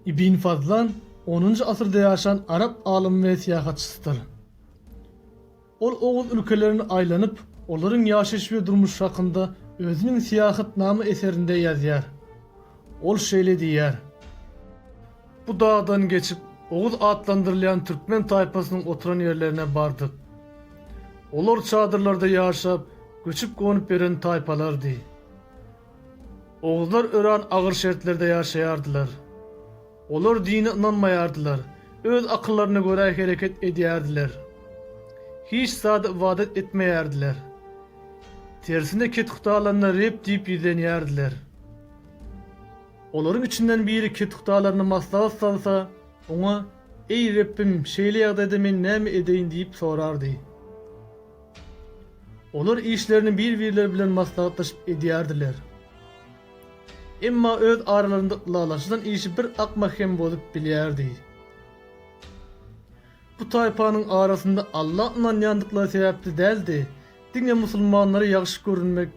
Ibn Fazlan onunjy asyrda ýaşan arap alymy we syýahatçysydyr. Ol oguz ülkelerini aýlanyp, olaryň ýaşaýyş we durmuşy hakynda özüniň Syýahatnama eserinde ýazýar. Ol şeýle diýýär, Bu dagdan geçip, Oguz atlandyrylýan türkmen taýpasynyň oturan ýerlerine bardyk. Olar çadyrlarda ýaşap, göçüp-gonup ýören taýpalardy. Oguzlar örän agyr şertlerde ýaşaýardylar. Olar dine ynanmaýardylar, öz akyllaryna görä hereket edýärdiler. Hiç zada ybadat etmeýärdiler. Tersine kethudalaryna Reb diýip ýüzlenýärdiler. Olaryň içinden biri kethudalaryna maslahat salsa, oňa, Eý, Rebbim, şeýle ýagdaýda men näme edeýin diýip sorardy. Olar işlerini bir-birleri bilen maslahatlaşyp edýärdiler. Emma öz aralarynda ylalaşylan işi bir akma hem bozup bilýärdi. Bu taýpanyň arasynda Alla ynanýandyklary sebäpli däl-de, diňe musulmanlara ýagşy görünmek,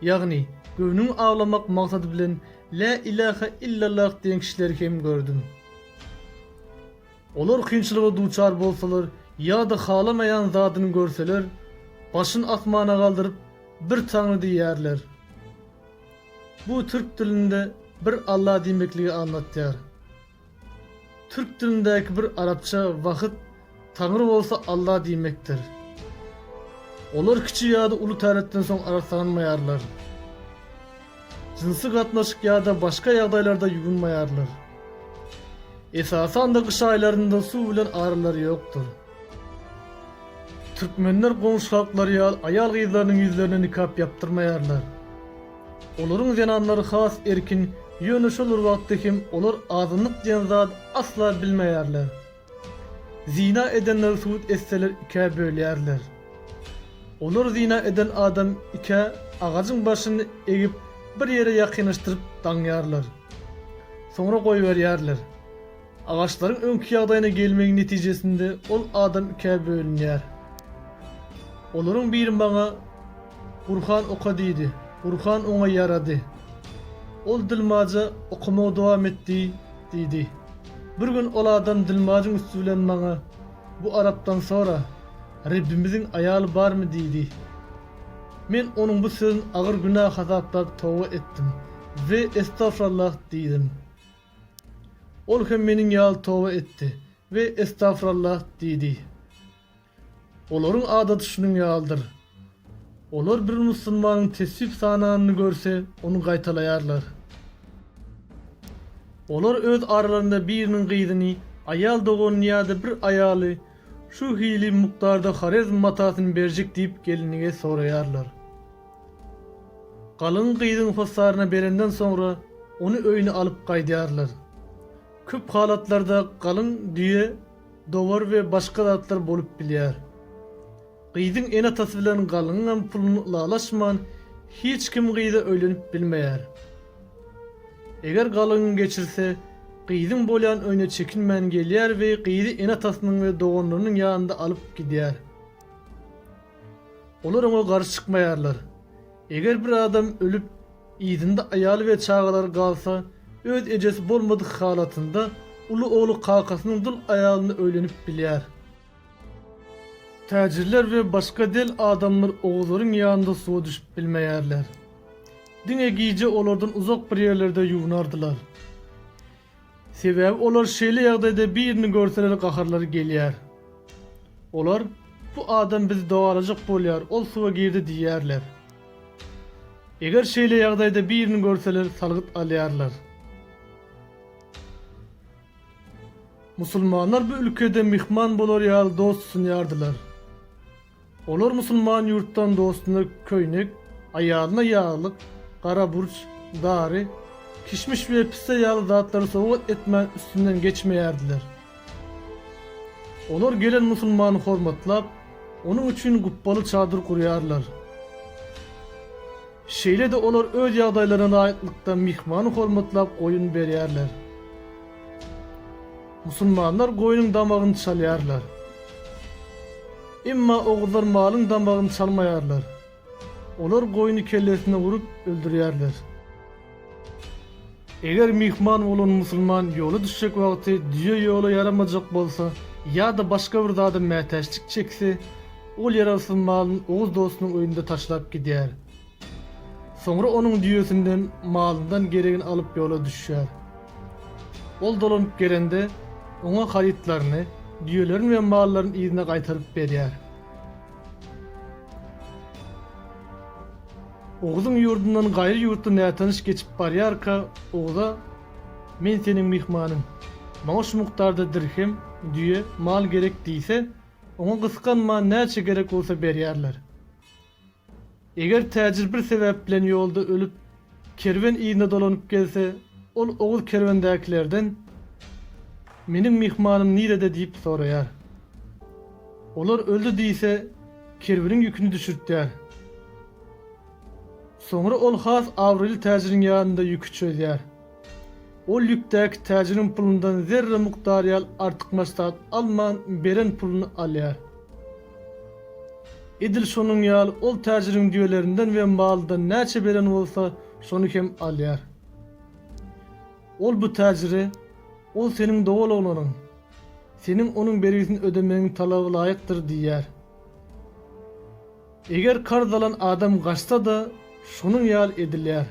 ýagny göwnüňi awlamak maksady bilen Lä ilähe illallah diýen kişileri hem gördüm. Olar kynçylyga duçar bolsalar ýa-da halamaýan zadyny görseler, başyn asmana galdyryp, Bir Taňry diýýärler. Bu türk dilinde bir Allah diýmekligi aňlatýar. Türk dilindäki bir arapça wahyt Taňry bolsa Allah diýmekdir. Olar kiçi ýa-da uly täretden soň arassanmaýarlar. Jynsy gatnaşyk ýa-da başga ýagdaýlarda ýuwunmaýarlar. Esasan-da gyş aýlarynda suw bilen aralary ýokdur. Türkmenler goňşy halklar ýaly aýal-gyzlarynyň ýüzlerine nikap ýapdyrmaýarlar. Olaryň zenanlary has erkin, ýöne şol bir wagtda hem olar azynlyk diýen zady asla bilmeýärler. Zyna edenleri subut etseler ikä bölýärler. Olar zyna eden adam ikä agajyň başyny egip bir ýere ýakynlaşdyryp daňýarlar. Soňra goýberýärler. Agaçlaryň öňki ýagdaýyna gelmegiň netijesinde ol adam ikä bölünýär. Olaryň biri maňa, Gurhan oka diýdi. Gurhan oňa ýarady. Ol dilmaja okamagy dowam etdi, diýdi. Bir gün ol adam dilmajyň üsti bilen maňa, Bu arapdan sora, Rebbimiziň aýaly barmy diýdi. Men onuň bu sözün agyr günä hasaplap toba etdim we Estagfurallah diýdim. Ol hem meniň ýaly toba etdi we Estagfurallah diýdi. Olaryň adaty şunuň ýalydyr. Olar bir musulmanyň tesbih sananyny görse, ony gaýtalaýarlar. Olar öz aralarynda biriniň gyzyny, aýal doganyny ýa-da bir aýaly şu hili mukdarda horezm matasyny berjek diýip gelinige soraýarlar. Galyň gyzyň hossaryna berenden soňra ony öýüne alyp gaýdýarlar. Köp halatlarda galyň düýe, dowar we başga zatlar bolup bilýär. Gyzyň ene-atasy bilen galyňyňam puluny ylalaşman hiç kim gyza öýlenip bilmeýär. Eger galyň geçirse, gyzyň bolýan öýüne çekinmän gelýär we gyzy ene-atasynyň we doganlarynyň ýanynda alyp gidýär. Olar oňa garşy çykmaýarlar. Eger bir adam ölüp, yzynda aýaly we çagalary galsa, öz ejesi bolmadyk halatynda, uly ogly kakasynyň dul aýalyna öýlenip bilýär. Täjirler we başga del adamlar oguzlaryň ýanynda suwa düşüp bilmeýärler. Diňe gije olardan uzak bir ýerlerde ýuwnardylar. Sebäbi olar şeýle ýagdaýda birini görseler gaharlary gelýär. Olar, Bu adam bizi dogalajak bolýar, ol suwa girdi diýýärler. Eger şeýle ýagdaýda birini görseler salgyt alýarlar. Musulmanlar bu ülkede myhman bolar ýaly dost sunýardylar. Olar musulman ýurtdan dostuna köýnek, aýalyna ýaglyk, gara burç, dary, kişmiş we pisse ýaly zatlary sowgat etmän üstünden geçmeýärdiler. Olar gelen musulmany hormatlap, onuň üçin gupbaly çadyr gurýarlar. Şeýle-de olar öz ýagdaýlaryna laýyklykda myhmany hormatlap goýun berýärler. Musulmanlar goýnuň damagyny çalýarlar. Emma oguzlar malyň damagyny çalmaýarlar. Olar goýny kellesine urup, öldürýärler. Eger myhman bolan musulman ýola düşjek wagty düýe ýola ýaramajak bolsa ýa-da başga bir zada mätäçlik çekse, ol ýarawsyz malyny oguz dostunyň öýünde taşlap gidýär. Soňra onuň düýesinden, malyndan geregini alyp ýola düşýär. Ol dolanyp gelende, oňa harytlaryny, düýelerini we mallaryny yzyna gaýtaryp berýär. Oguzyň ýurdundan gaýry ýurtly nätanyş geçip barýarka, Oguza, Men seniň myhmanyň. Maňa şu mukdarda dirhem, düýe, mal gerek diýse, oňa gysganman, näçe gerek bolsa berýärler. Eger täjir bir sebäp bilen ýolda ölüp, kerwen yzyna dolanyp gelse, ol oguz kerwendäkilerden, Meniň myhmanym nirede diýip soraýar. Olar öldi diýse, kerweniň ýüküni düşürtýär. Soňra ol has abraýly täjiriň ýanynda ýüki çözýär. Ol ýükdäki täjiriň pulundan zerre mukdar ýaly artykmaç zat alman, beren puluny alýar. Edil şonuň ýaly ol täjiriň düýelerinden we maldan näçe beren bolsa, şony hem alýar. Ol bu täjire, Ol seniň dogul oglanyň. Seniň onuň bergisini ödemegiň talabalaýykdyr diýýär. Eger karz alan adam gaçsa-da, şonuň ýaly edilýär.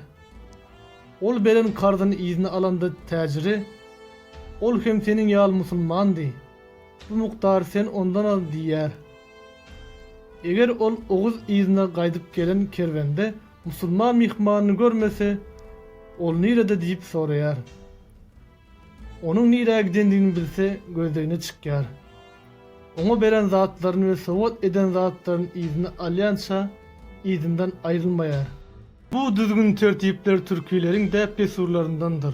Ol beren karzyny yzyna alanda täjiri, Ol hem seniň ýaly musulmandy, bu mukdary sen ondan al diýýär. Eger ol oguz yzyna gaýdyp gelen kerwende musulman myhmanyny görmese, Ol nirede diýip soraýar. Onuň nirä gidendigini bilse, gözlegine çykýar. Oňa beren zatlaryny we sowgat eden zatlaryny yzyna alýança yzyndan aýrylmaýar. Bu düzgün-tertipler türkileriň däp-dessurlaryndandyr.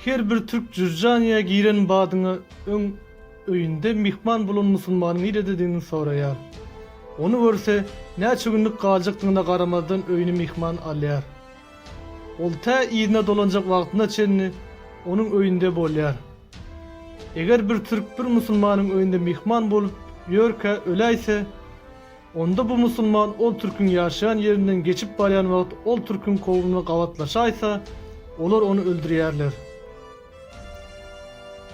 Her bir türk Jürjaniýa giren badyna öň öýünde myhman bolan musulmanyň nirededigini soraýar. Ony görse, näçe günlük galjakdygyna garamazdan öýüne myhman alýar. Ol tä yzyna dolanjak wagtyna çenli onuň öýünde bolýar. Eger bir türk bir musulmanyň öýünde myhman bolup ýörkä öläýse, onda bu musulman ol türküň ýaşaýan ýerinden geçip barýan wagt ol türküň kowumyna gabatlaşaýsa, olar ony öldürýärler.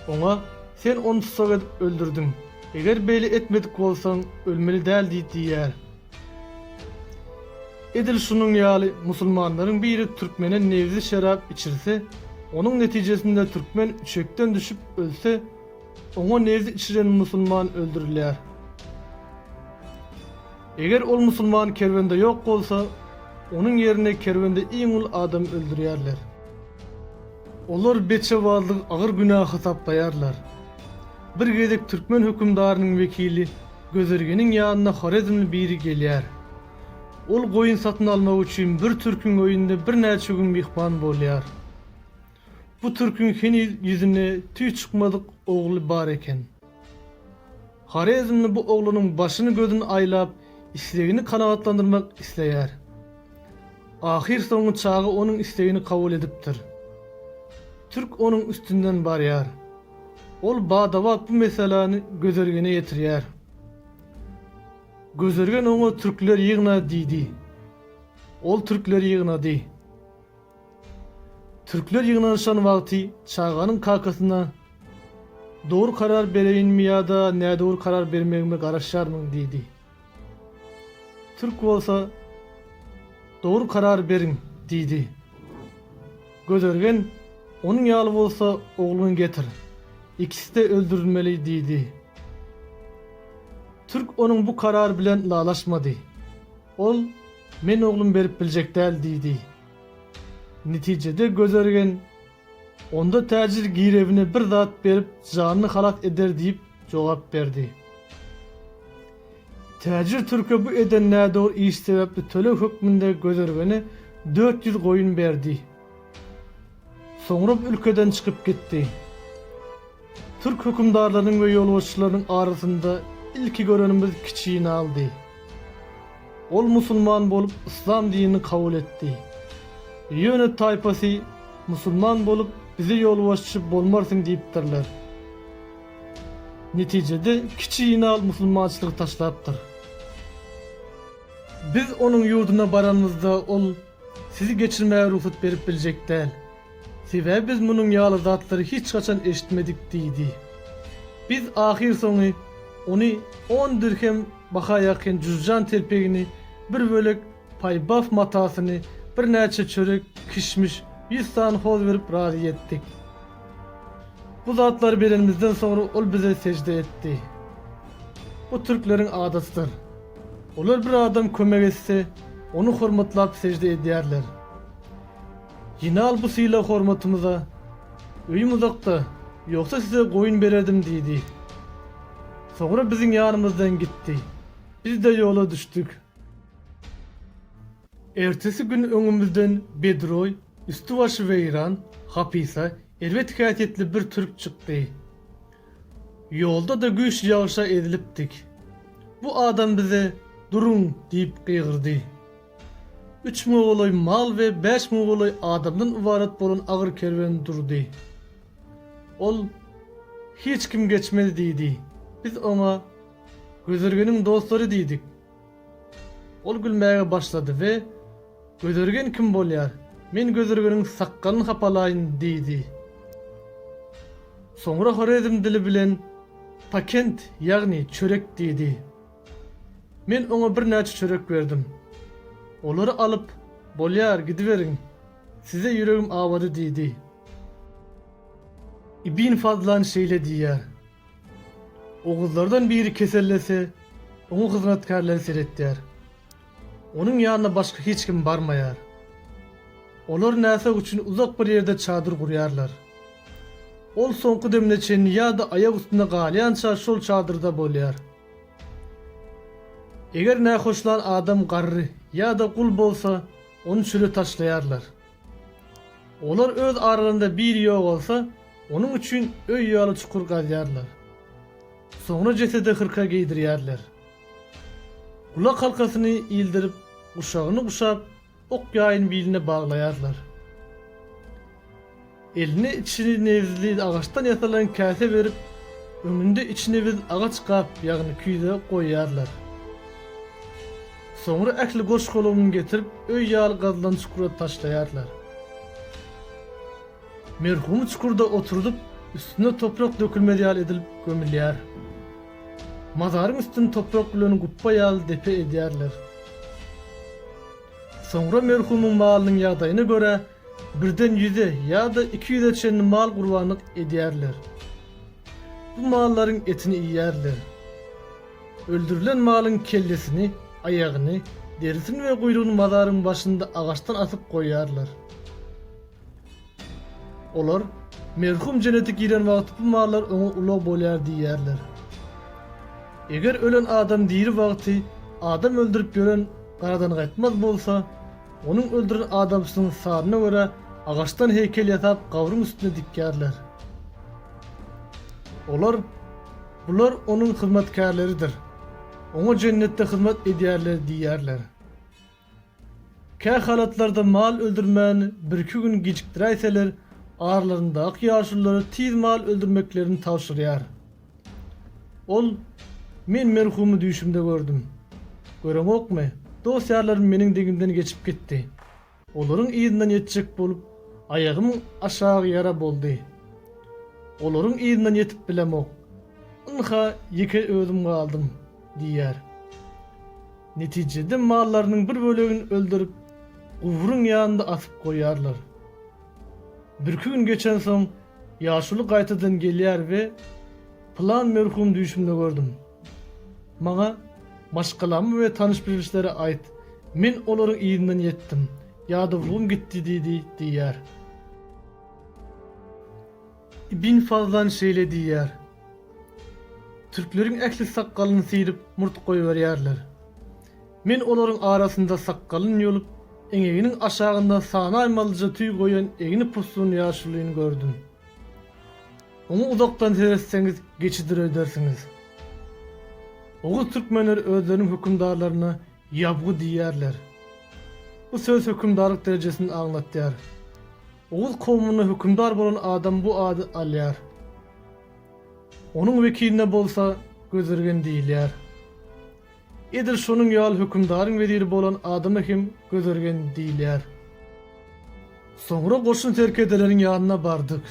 Oňa, Sen ony tussag edip öldürdiň. Eger beýle etmedik bolsaň, ölmeli däl diýýär. Edil şunuň ýaly musulmanlaryň biri türkmene nebzi şerap içirse, onuň netijesinde türkmen üçekden düşüp ölse, oňa nebzi içiren musulman öldürilýär. Eger ol musulman kerwende ýok bolsa, onuň ýerine kerwende iň ul adamy öldürýärler. Olar beçewazlygy agyr günä hasaplaýarlar. Bir gezek türkmen hökümdarynyň wekili Gözürgeniň ýanyna horezmli biri gelýär. Ol goýun satyn almak üçin bir türküň öýünde birnäçe gün myhman bolýar. Bu türküň heniz ýüzüne tüý çykmadyk ogly bar eken. Horezmli bu oglanyň başyny-gözüni aýlap, islegini kanagatlandyrmak isleýär. Ahyrsoňy çaga onuň islegini kabul edipdir. Türk onuň üstünden barýar. Ol bada-bat bu meseläni Gözergene ýetirýär. Gözergen oňa türkleri ýygna diýdi. Ol türkleri ýygnady. Türkler ýygnanyşan wagty çaganyň kakasyna Dogry karar bereýinmi ýa-da nädogry karar bermegime garaşýarmyň diýdi. Türk bolsa, Dogry karar beriň! diýdi. Gözergen, Onuň ýaly bolsa, ogluňy getir. Ikisi-de öldürilmeli! diýdi. Türk onuň bu karary bilen ylalaşmady. Ol, Men oglumy berip biljek däl! diýdi. Netijede Gözergen. Onda täjir girewine bir zat berip, janyny halas eder diýip, jogap berdi. Täjir türke bu eden nädogry iş sebäpli töleg hökmünde Gözergene dört ýüz goýun berdi. Soňra bu ülkeden çykyp gitdi. Türk hökümdarlarynyň we ýolbaşçylarynyň arasynda ilki görenimiz Kiçi Ynaldy. Ol musulman bolup, yslam dinini kabul etdi. Ýöne taýpasy, Musulman bolup, bize ýolbaşçy bolmarsyň diýipdirler. Netijede Kiçi Ynal musulmançylygy taşlapdyr. Biz onuň ýurduna baranymyzda ol Sizi geçirmäge rugsat berip biljek däl. Sebäbi biz munuň ýaly zatlary hiç haçan eşitmedik diýdi. Biz ahyrsoňy ony on dirhem baha ýakyn jüzjan telpegini, bir bölek paýbaf matasyny, birnäçe çörek, kişmiş, ýüz sany hoz berip razy etdik. Bu zatlary berenimizden soňra ol bize sežde etdi. Bu türkleriň adatydyr. Olar bir adam kömek etse, ony hormatlap sejde edýärler. Ýene al bu sylag hormatymyza. Öýüm uzakda, ýogsa size goýun bererdim diýdi. Soňra biziň ýanymyzdan gitdi. Biz-de ýola düşdük. Ertesi gün öňümizden bedroý, üsti-başy weýran, hapysa, erbet häsiýetli bir türk çykdy. Ýolda-da güýçli ýagyşa ezilipdik. Bu adam bize Duruň! diýip gygyrdy. Üç müňe golaý mal we bäş müňe golaý adamdan ybarat bolan agyr kerwen durdy. Ol, Hiç kim geçmez diýdi. Biz oňa, Gözelgeniň dostlary diýdik. Ol gülmäge başlady we Gözergen kim bolýar? Men Gözergeniň sakgalyny hapalaýyn, diýdi. Soňra horezm dili bilen Pakent, ýagny çörek diýdi. Men oňa birnäçe çörek berdim. Olary alyp, Bolýar, gidiberiň. Size ýüregim awady, diýdi. Ibn Fazlan şeýle diýýär. Oguzlardan biri kesellese, oňa hyzmatkärleri seretýär. Onuň ýanyna başga hiç kim barmaýar. Olar näsag üçin uzak bir ýerde çadyr gurýarlar. Ol soňky demine çenli ýa-da aýak üstünde galýança şol çadyrda bolýar. Eger nähoşlan adam garry ýa-da gul bolsa, ony çöle taşlaýarlar. Olar öz aralarynda biri ýogalsa, onuň üçin öý ýaly çukur gazýarlar. Soňra jesede hyrka geýdirýärler. Gulak halkasyny ildirip, guşagyny guşap, ok-ýaýyny biline baglaýarlar. Eline içini nebizli agaçdan ýasalan käse berip, öňünde içi nebiz agaç gap, ýagny küýze goýýarlar. Soňra ähli goş-golagyny getirip, öý ýaly gazylan çukura taşlaýarlar. Merhumy çukurda oturdyp, üstüne toprak dökülmez ýaly edilip gömülýär. Mazaryň üstüni toprak bilen gupba ýaly depe edýärler. Soňra merhumyň malynyň ýagdaýyna görä, Birden ýüze ýa-da iki ýüze çenli mal gurbanlyk edýärler. Bu mallaryň etini iýýärler. Öldürilen malyň kellesini, aýagyny, derisini we guýrugyny mazaryň başynda agaçdan asyp goýýarlar. Olar, Merhum jennete giren wagty bu mallar oňa ulag bolýar diýýärler. Eger ölen adam diri wagty adam öldürip ýören garadangaýtmaz bolsa, Onuň öldüren adamçynyň saryna görä, agaçdan heýkel ýasap gabryň üstüne dikýärler. Olar, Bular onuň hyzmatkärleridir. Oňa jennetde hyzmat edýärler diýýärler. Kähalatlarda mal öldürmän birki gün gijikdiräýseler, aralaryndaky ýaşululary tiz mal öldürmeklerini tabşyrýar. Ol, Men merhumy düýşümde gördüm. Göreňokmy, dost-ýarlarym meniň degimden geçip gitdi. Olaryň yzyndan ýetjek bolup, aýagym aşak ýara boldy. Olaryň yzyndan ýetip bilemok. Ynha, ýeke özüm galdym, diýýär. Netijede mallarynyň bir bölegini öldürip, gubryň ýanynda asyp goýýarlar. Birki gün geçensoň, ýaşuly gaýtadan gelýär we Pylan merhum düýşümde gördüm. Maňa maşgalamy we tanyş-bilişleri aýt, men olaryň yzyndan ýetdim, ýadawlygym gitdi diýdi diýýär. Ibn Fazan şeýle diýýär, Türkleriň ähli sakgalyny syryp, murt goýberýärler. Men olaryň arasynda sakgalyny ýolup, eňeginiň aşagynda sanaýmalyja tüý goýan egni pussun ýaşulyny gördüm. Oňa uzakdan seretseňiz, geçidir öýdersiňiz. Oguz türkmenleri özleriniň hökümdarlaryna ýabgu diýýärler. Bu söz hökümdarlyk derejesini aňlatýar. Oguz kowmunda hökümdar bolan adam bu ady alýar. Onuň wekiline bolsa Gözirgen diýilýär. Edil şonuň ýaly hökümdaryň weziri bolan adama hem Gözirgen diýilýär. Soňra goşun serkerdeleriň ýanyna bardyk.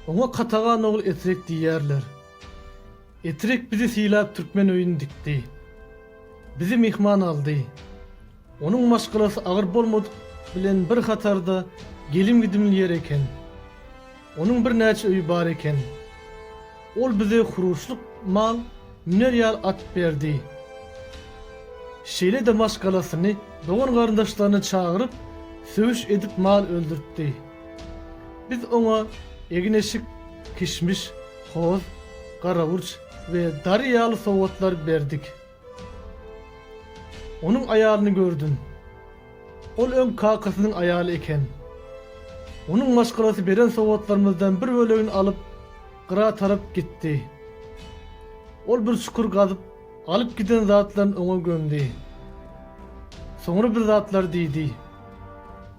Oňa katagan ogul Etrek diýýärler. Etrek bizi sylap türkmen öýüni dikdi. Bizi myhman aldy. Onuň maşgalasy agyr bolmadyk bilen bir hatarda gelim-gidimli ýer eken. Onuň birnäçe öýi bar eken. Ol bize huruşlyk mal, müner ýaly at berdi. Şeýle-de maşgalasyny, dogan-garyndaşlaryny çagyryp, söwüş edip mal öldürtdi. Biz oňa egin-eşik, kişmiş, hoz, garaburç we dary ýaly sowgatlar berdik. Onuň aýalyny gördüm. Ol öň kakasynyň aýaly eken. Onuň maşgalasy beren sowgatlarymyzdan bir bölegini alyp, gyra tarap gitdi. Ol bir çukur gazyp, Alyp giden zatlaryny oňa gömdi. Soňra bir zatlar diýdi.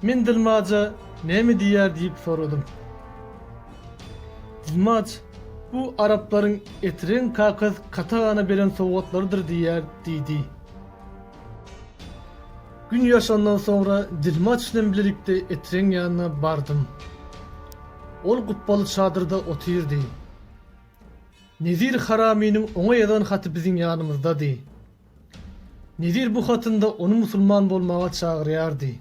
Men dilmaja näme diýýär diýip soradym. Dilmaç, Bu araplaryň Etren kakas Katagana beren sowgatlarydyr diýýär diýdi. Gün ýaşandan soňra dilmaç bilen bilelikde Etren ýanyna bardym. Ol gupbaly çadyrda otyrdy. Nezir Haraminiň oňa ýazan haty biziň ýanymyzdady. Nezir bu hatynda ony musulman bolmaga çagyrýardy.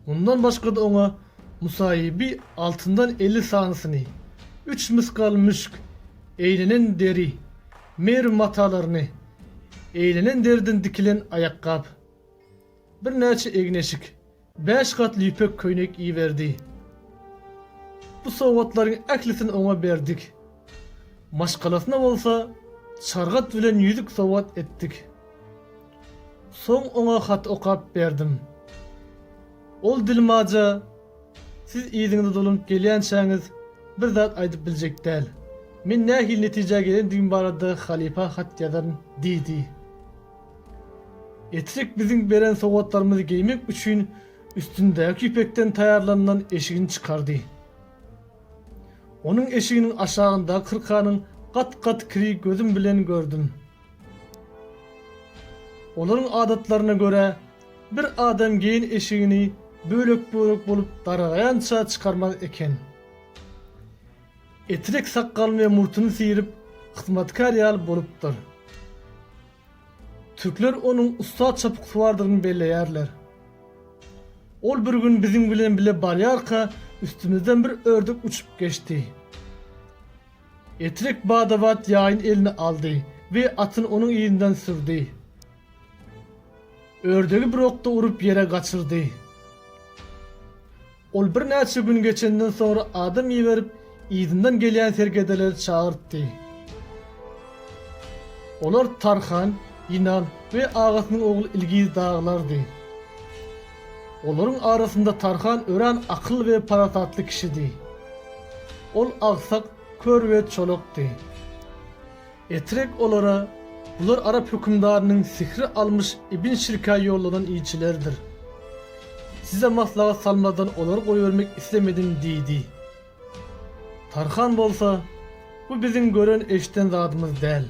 Mundan başga-da oňa Musaýyby altyndan elli sanysyny, üç mysgal müşk, eýlenen deri, Merw matalaryny, eýlenen deriden dikilen aýakgap, birnäçe egin-eşik, Bäş gatly ýüpek köýnek iberdi. Bu sowgatlaryň ählisini oňa berdik. Maşgalasyna bolsa çargat bilen ýüzük sowgat etdik. Soň oňa hat okap berdim. Ol dilmaja, Siz yzyňyza dolanyp gelýänçäňiz, bir zat aýdyp biljek däl. Men nähili netijä gelendigim barada halypa hat ýazaryn diýdi. Etrek biziň beren sowgatlarymyzy geýmek üçin üstündäki ýüpekden taýýarlanylan eşigini çykardy. Onuň eşiginiň aşagyndaky kyrkanyň gat-gat kiri gözüm bilen gördüm. Olaryň adatlaryna görä, bir adam geýen eşigini bölek-bölek bolup daragaýança çykarmaz eken. Etrek sakgalyny we murtuny syryp, hyzmatkär ýaly bolupdyr. Türkler onuň ussat çapyksuwardygyny belleýärler. Ol bir gün biziň bilen bile barýarka, üstümizden bir ördek uçup geçdi. Etrek bada-bat ýaýyny eline aldy we atyny onuň yzyndan sürdi. Ördegi bir okda urup ýere gaçyrdy. Ol birnäçe gün geçenden soňra adam iberip, yzyndan gelýän serkedeleri çagyrtdy. Olar Tarhan, Ýynan we agasynyň ogly Ilgiz dagylardy. Olaryň arasynda Tarhan örän akylly we parasatly kişidi. Ol agsak, kör we çolakdy. Etrek olara, Bular arap hökümdarynyň sihri almyş Ibn Şirkä ýollanan ilçilerdir. Size maslahat salmazdan olary goýbermek islemedim diýdi. Tarhan bolsa, Bu biziň gören-eşiden zadymyz däl.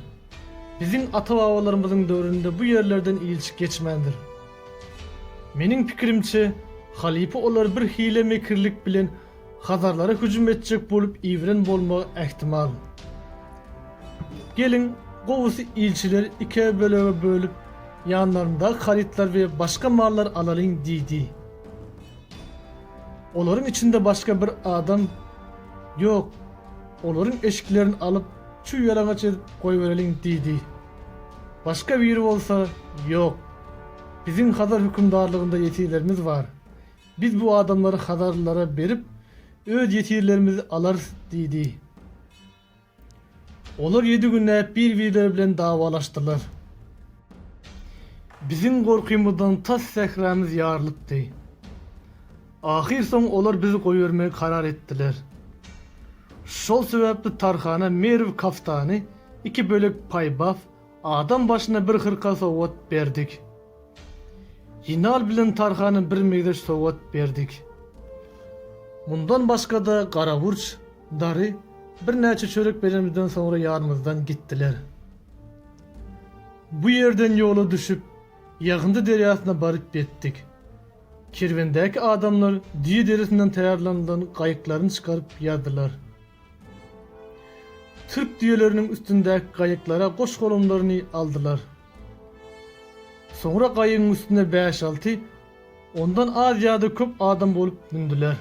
Biziň ata-babalarymyzyň döwründe bu ýerlerden ilçi geçmändir. Meniň pikirimçe, halypa olary bir hile-mekirlik bilen Hazarlara hüjüm etjek bolup iwren bolmagy ähtimal. Geliň, gowusy ilçileri ikä bölege bölüp, ýanlaryndaky harytlar we başga mallar alalyň diýdi. Olaryň içinde başga bir adam Ýok, olaryň eşiklerini alyp, çüw-ýalaňaç edip goýbereliň diýdi. Başga biri bolsa Ýok, biziň hazar hökümdarlygynda ýesirlerimiz bar. Biz bu adamlary hazarlylara berip, öz ýesirlerimizi alarys diýdi. Olar ýedi günläp bir-birleri bilen dawalaşdylar. Biziň gorkymyzdan tas sähramyz ýarylypdy. Ahyrsoňy olar bizi goýbermegi karar etdiler. Şol sebäpli Tarhana Merw kaftany, iki bölek paýbap, Adam başyna bir hyrka sowgat berdik. Ýenal bilen Tarhana bir migreç sowgat berdik. Mundan başga-da Garaburç, Dary birnäçe çörek berenimizden soňra ýanymyzdan gitdiler. Bu ýerden ýola düşüp, Ýagyndy derýasyna baryp ýetdik. Kerwendäki adamlar düýe derisinden taýýarlanylan gaýyklaryny çykaryp ýazdylar. Türk düýeleriniň üstündäki gaýyklara goş-golamlaryny aldylar. Soňra gaýygyň üstüne bäş-alty, ondan az ýa-da köp adam bolup mündüler.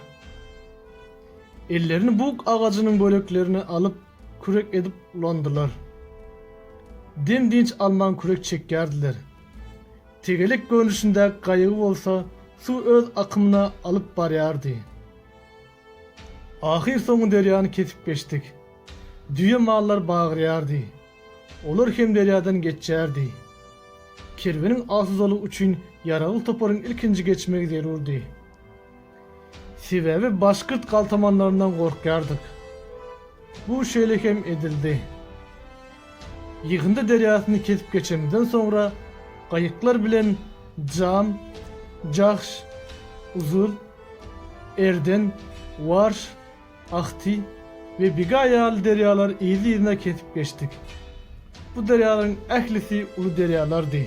Ellerini bug agajynyň böleklerini alyp, kürek edip ulandylar. Dem-dynç alman kürek çekýärdiler. Tegelek görnüşindäki gaýygy bolsa suw öz akymyna alyp barýardy. Ahyr soňy derýany kesip geçdik. Düýe mallar bagyrýardy. Olar hem derýadan geçýärdi. Kerweniň asudalygy üçin ýaragly toparyň ilkinji geçmegi zerurdy. Sebäbi başgyrt galtamanlaryndan gorkýardyk. Bu şeýle hem edildi. Ýygyndy derýasyny kesip geçenimizden soňra gaýyklar bilen Jam, Jahş, Uzur, Erden, Warş, Ahti we Biga ýaly derýalary yzly-yzyna kesip geçdik. Bu derýalaryň ählisi uly derýalardy.